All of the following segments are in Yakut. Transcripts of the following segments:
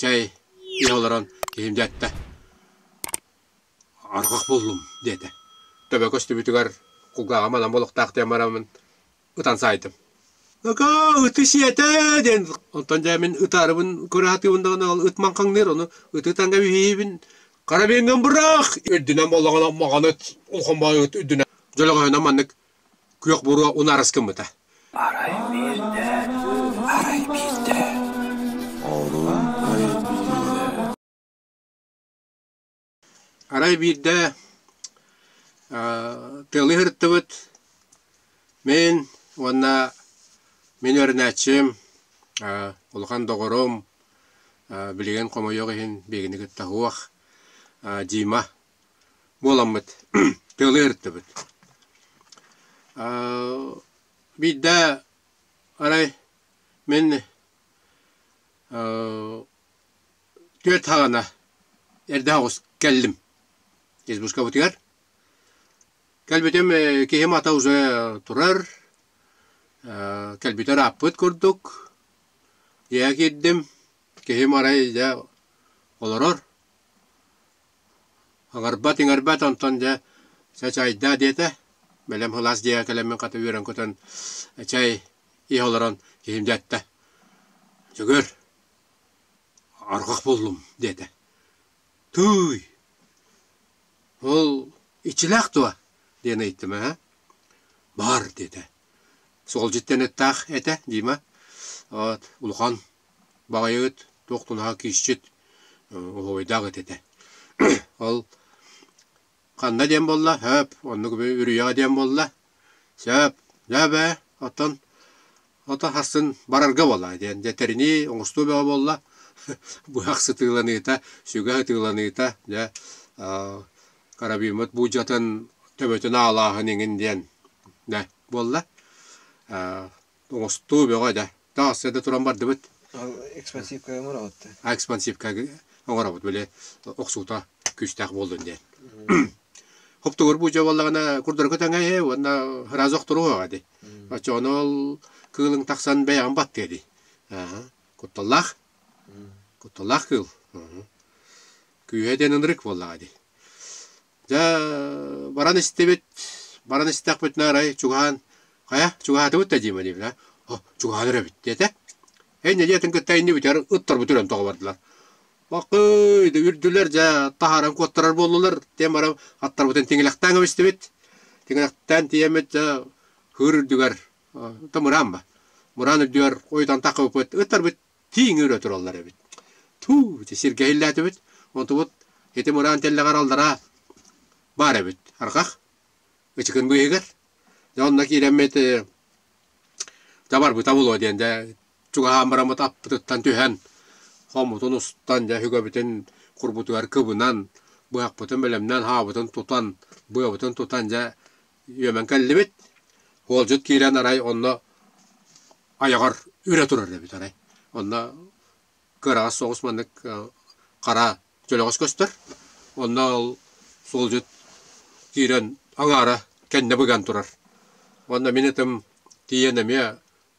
чай иһэ олорон киһим дьэ атта арҕах буллум диэтэ төбө көстүбүтүгэр кулгааҕа манан олохтоох диэн бараммын ытан саайдым «Акаа ыты сиэтэ!» диэн онтон дьэ мин ытаарыбын кыраһатыыбын даҕаны ол ыт маҥхаҥныыр ону ыты ытаҥга виһиибин карабиҥҥын быраах үрдүнэн буоллаҕына маҕаны холбоойут үрдүнэн дьөлөҕөһүнэн маннык Күөх буруо унаарыс гыммыта Арай биирдэ тыалы ыһырыттыбыт мин уонна мин өрүнээччим улахан доҕорум билигин хомойуох иһин биһигини кытта суох Дима буоламмыт тыалы эртибит. Биирдэ арай мин түөрт хаҕана эрдэ оҕус кэллим избушкабытыгар. Кэлбитим киһим ата уже турар, кэлбитэ ырааппыт курдук. Дьиэҕэ киирдим, киһим арай дьэ олорор. Аҥарбат, иҥэрбэт, онтон дьэ чачайдаа диэтэ. Бэлэм һылаас дьиэҕэ кэлэммин хата үөрэн көтөн чай иһэ олорон киһим дьэ эттэ: «Дьөгүөр, оргох буллум» диэтэ. «Тууй, ол иччилээх дуо?» диэн ыйыттым. «Эһэ, баар» диэтэ. «Суолдьут диэн ыттаах этэ, Дима. Вот, улахан. Баҕайыгыт туох тунаһа киисчит, уһуойдаах ит этэ. Ол ханна диэн буолла? Сөп, оннук үрүйэҕэ диэн буолла. Сөп, дьэ бээ, оттон ото хассын барарга буоллаҕа диэн. Дьэ тэринии оҥостуо бөҕө буолла. Быһах сытыыланыыта, сүгэх ытыыланыыта, дьэ карабиммыт буулдьатын төбөтүн аалааһын иҥин диэн да буолла. Оҥостуу бөҕө да. Таҥас да туран бардыбыт. Экспансивка оҥоробут. А экспансивка оҥоробут били охсуута күүстээх буоллун диэн. Хоптугур бу жабаллагана курдургу таҥайы уонна разок туруга ди. Очонол кылың тахсан бэйам баттыа ди. Кутталлах. Кутталлах кыл. Күүһэ ден ынырык буоллаға ди. Дьэ, баран истибит, баран истэхпитинэ арай чугаһаан, хайа, чугаһаатыбыт да диэм диэбитэ, «О, чугаһаан өрөбүт» диэтэ. Инньэ диэтин кытта иннибит эр ыттарбыт өлөн тоҕо бардылар. Бакый, үрдүлэр дьэ таһааран куоттарар буоллулар. Диэн баран аттарбытын тиҥилэхтээн кэбистибит. Тиҥилэхтээн тиийэммит дьэ хыр үрдүгэр, там ыраан ба, мыраан үрдүгэр ойутан тахпыппыт, ыттарбыт тииҥир өтүрэллэр эбит. Туу, сиргэ иллээтибит. Онтубут ити мураан тэллэҕэр аллараа баар эбит. Арҕах ычыкын быыһыгар. Онно киирэммит табарбыта булуо диэн дэ чугаһаан бараммыт аппытыттан түһэн хоммутун устан дьэ үгэбитин курбутугар кыбынан быһахпытын бэлэмнээн хаабытын тутан быабытын тутан дьэ үөмэн кэллибит. Уолдьут киирэн арай онно айаҕар үрэ турар эбит арай. Онно кыараҕас соҕус маннык хара дьөлөҕөс көстөр. Онно ол суолдьут киирэн аҥаара кэннэ быган турар. Онно мин ытым тиийэн эмиэ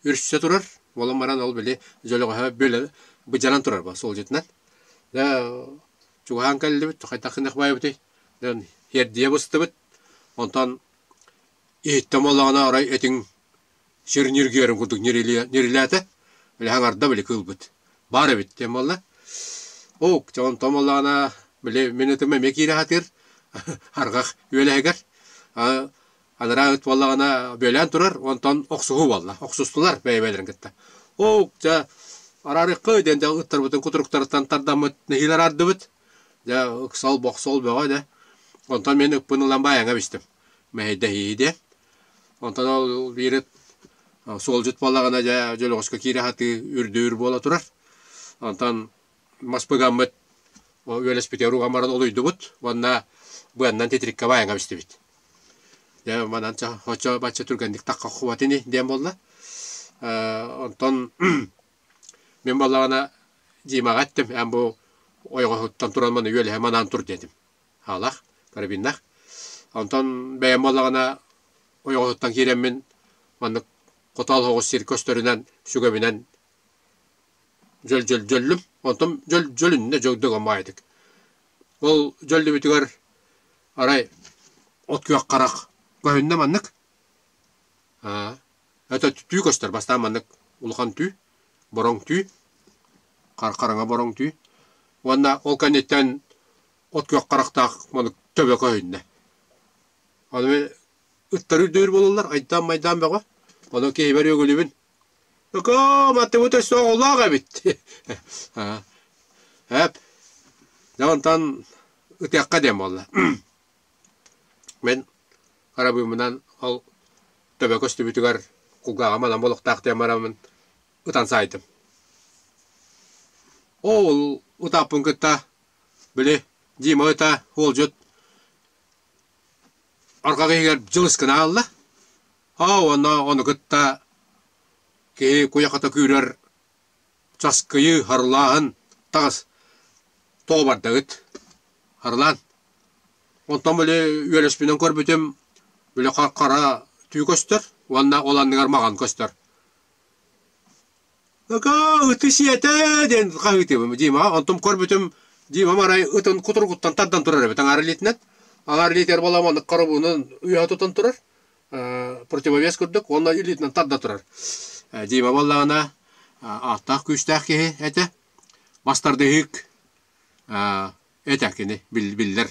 үрсэ турар. Уолум баран ол били дьөлөҕөһө бүөлэ быдьанан турар бу суолдьутунан. Дэ чугаһаан кэллибит хайдах гыныах баайбытый? Дэн хиэрдийэ быстыбыт. Онтон иһиттем олоҕуна арай этиҥ сир ньиргиэрин курдук ньирилээтэ. Били хаҥарда били кыылбыт. Баар эбит диэн буолла. Уук, дьэ онтон буоллаҕына били мин ытым эмиэ киирэ сатыыр арҕах үөлэһигэр. Анараа ыт буоллаҕына бүөлээн турар онтон охсуһуу буолла. Охсустулар бэйэ-бэйэлэрин кытта. Уук, дьэ араарыаххыай диэн дьэ ыттарбытын кутуруктарыттан тардаммыт нэһиилэ араардыбыт. Дьэ, ыксал-бохсол бөҕө да. Онтон мин ыппын ылан баайаҥа бистим. Мэһэйдэһиһидэ. Онтон ол биир ыт суолдьут буоллаҕына, дьэ, дьөлөҕөскө киирэ сатыы үрдүүр буола турар. Онтон мас быгаммыт үөлэспитигэр уган баран олуйдубут уонна быаннан титириккэ баайаҥа бистибит. Дьэ, манан ча, оччо-бачча түргэнник тахха оххубат ини диэн буолла. Онтон Мин балаҕана Димаҕа эттим, эн бу ойоҕоһуттан туран маны үөлэһэ манаан тур диэтим. Аалах, карабиннах. Онтон бэйэм буоллаҕына ойоҕоһуттан киирэммин маннык хотоол оҕус сир көстөрүнэн, сүгэбинэн дьөл-дьөллүм. Онтон дьөл дьөлүннэ дьылдыга маайытык. Ол дьөллүбүтүгэр арай от күөх харах көһүннэ маннык. Аа Өтө түү көстөр бастаан маннык улахан түү, бороҥ түү, хараҥа бороҥ түү. Уонна ол кэнниттэн от күөх харахтаах маннык төбө көһүннэ. Аны ыттар үрдүбүт буолаллар, айдаан-майдаан бөҕө. Ону киһибэр үөгүлүбүн. Өкөө, маттыбыт өссө оҕолоох эбит. Эп, дьэ онтон ытыахха диэн буолла. Мин арабыымынан ол төбө көстүбүтүгэр кулгааҕым анам олохтоох диэн бараммын ытан саайдым. Оол утааппын кытта били Дима ыта уолдьут арҕах иһигэр дьылыскын аалла. Оо уонна ону кытта киһи куйахата күүрэр Часкыйыы, Харылааһын, таҕыс. Тоҕо бардаҕыт? Харылаан. Онтон били үөлэспинэн көрбүтүм, били хара түү көстөр уонна ол анныгар маҕан көстөр. Ыкаа, ыты сиэтэ диэн хаһыытыыбын. Дима, онтум көрбүтүм, Дима марай ытын кутуругуттан тардан турар эбит аҥаар илиитинэн. Аҥаар илиитигэр баламаннык хоробуунун үйэҕэ тутан турар. противовес курдук уонна илиитинэн тарда турар. Дима буоллаҕына ааттаах-күүстээх киһи этэ. Бастардыһык этэ кини биллэр.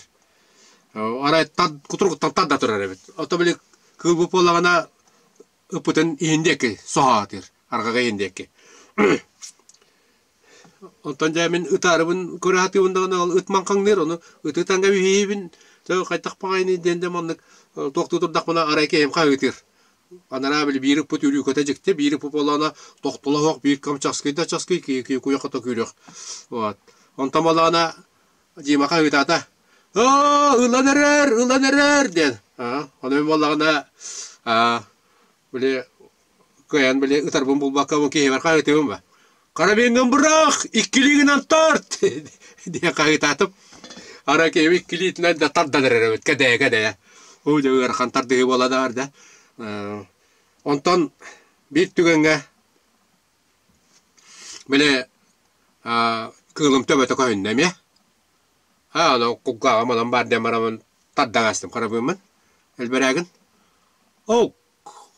Арай кутургуттан тарда турар эбит. Ото били кыыл бу буоллаҕына ыппытын иһин диэки соһаатыр. Арҕаҕа иһин диэки. Онтон дьэ мин ытаарыбын кураатыыбын даҕаны ол ытман хаҥныыр, ону ытыы таҥга виһиһибин, то хайдах паҕайыный диэн дьэ маннык туохтуу турдахпына арай киһим хаһыытыыр. Анараа били биир ыппыт үрүүкэтэ дьикти, биир ыппыт буолаана тохтоло суох биир кэм часкый да часкый киһи куйах ото күүрүөх. Вот. Онтон буолаана Дима хаһыытаата: «Оо ылан эрэр, ылан эрэр!» диэн. Аны буоллаҕына аа Били кыайан били ытарбын булбакка киһибэр хаһыытыыбын ба. Карабиҥҥын быраах, иккилиигинэн тарт! диэн хаһыытаатым. Ара киһим иккилиитинэн да тардан эрэрбит кэдэйэ-кэдэйэ. Оо дьэ ыарахан тардыһыы буола да баарда. Онтон биир түгэҥҥэ били кыылым төбөтө көһүннэ эмиэ. А, ону кулгааҕым онон баар диэн барабын тардаҥаастым харабыыммын. Элбэрээгин. Оу,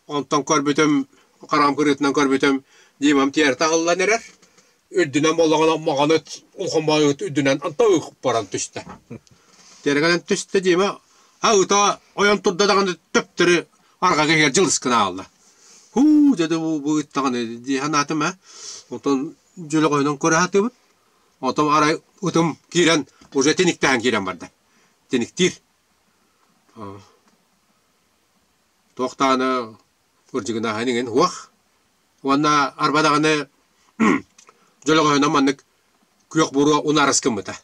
онтон көрбүтүм, хараҕым кырыытынан көрбүтүм, Димам тиэрэ таһыллан эрэр. Үрдүнэн боллоҕунан маҕаныт ухамаайыт үрдүнэн антан ыкпаран түстэ. Тиэрэгэнэн түстэ Дима, а ыта ойон турда даҕаны төптөрү арҕаҕа иһигэр дьылыс гына аҕалла. Һуу, дьэ да бу бу ыттаҕын дии санаатым ээ. Онтон дьөлөҕөйүнэн көрө сатыыбын. Отом арай утум киирэн уже тиниктээн киирэн барда. Тиниктиир. Туохтааны кырдьыгынааһын иҥин уох. Уонна арбадаҕаны дьөлөҕөһүнэн маннык күөх буруо унаарыс гыммыта.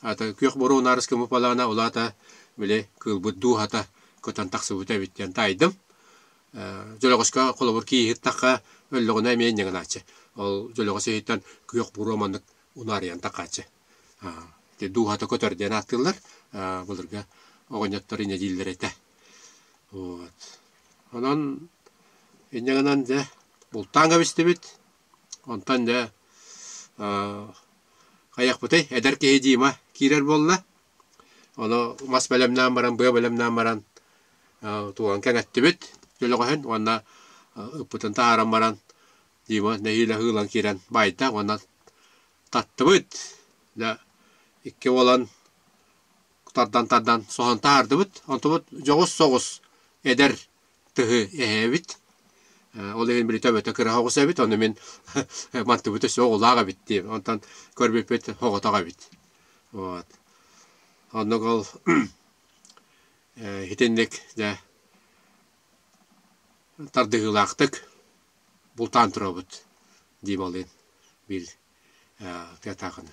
Ата күөх буруо унаарыс гыммыпалаана улаата били кыылбыт дууһата көтөн тахсыбыта эбит диэн таайдым. Дьөлөҕөскө холобур кииһиттахха өллөҕүнэ эмиэ ньыгынааччы. Ол дьөлөҕөс иһиттэн күөх буруо маннык унаарыйан тахааччы. Ити дууһата көтөр диэн ааттыыллар. Былыргы оҕонньоттор инньэ дииллэр этэ. Вот. Онон инньэ гынан дьэ бултаан кэбистибит. Онтон дьэ хайахпытый? Эдэр киһи Дима киирэр буолла. Ону мас бэлэмнээн баран, быа бэлэмнээн баран тууган кэҥэттибит дьөлөҕөһүн уонна ыппытын таһааран баран Дима нэһиилэ ыһыылан киирэн баайда уонна таттыбыт. Дьэ икки уолан тардан-тардан соһон таһаардыбыт. Онтубут дьоҕус соҕус эдэр тыһы эһээбит. Ол иһин билитэ эбэтэ кыраһа оҕус эбит, ону мин мантыбыта суох улаах эбит диэм. Онтон көрбүппүт оҕотох эбит. Вот. Оннук ол итинник дьэ тардыһыылаахтык бултаан турабыт дии балыын биир тыатаахыны.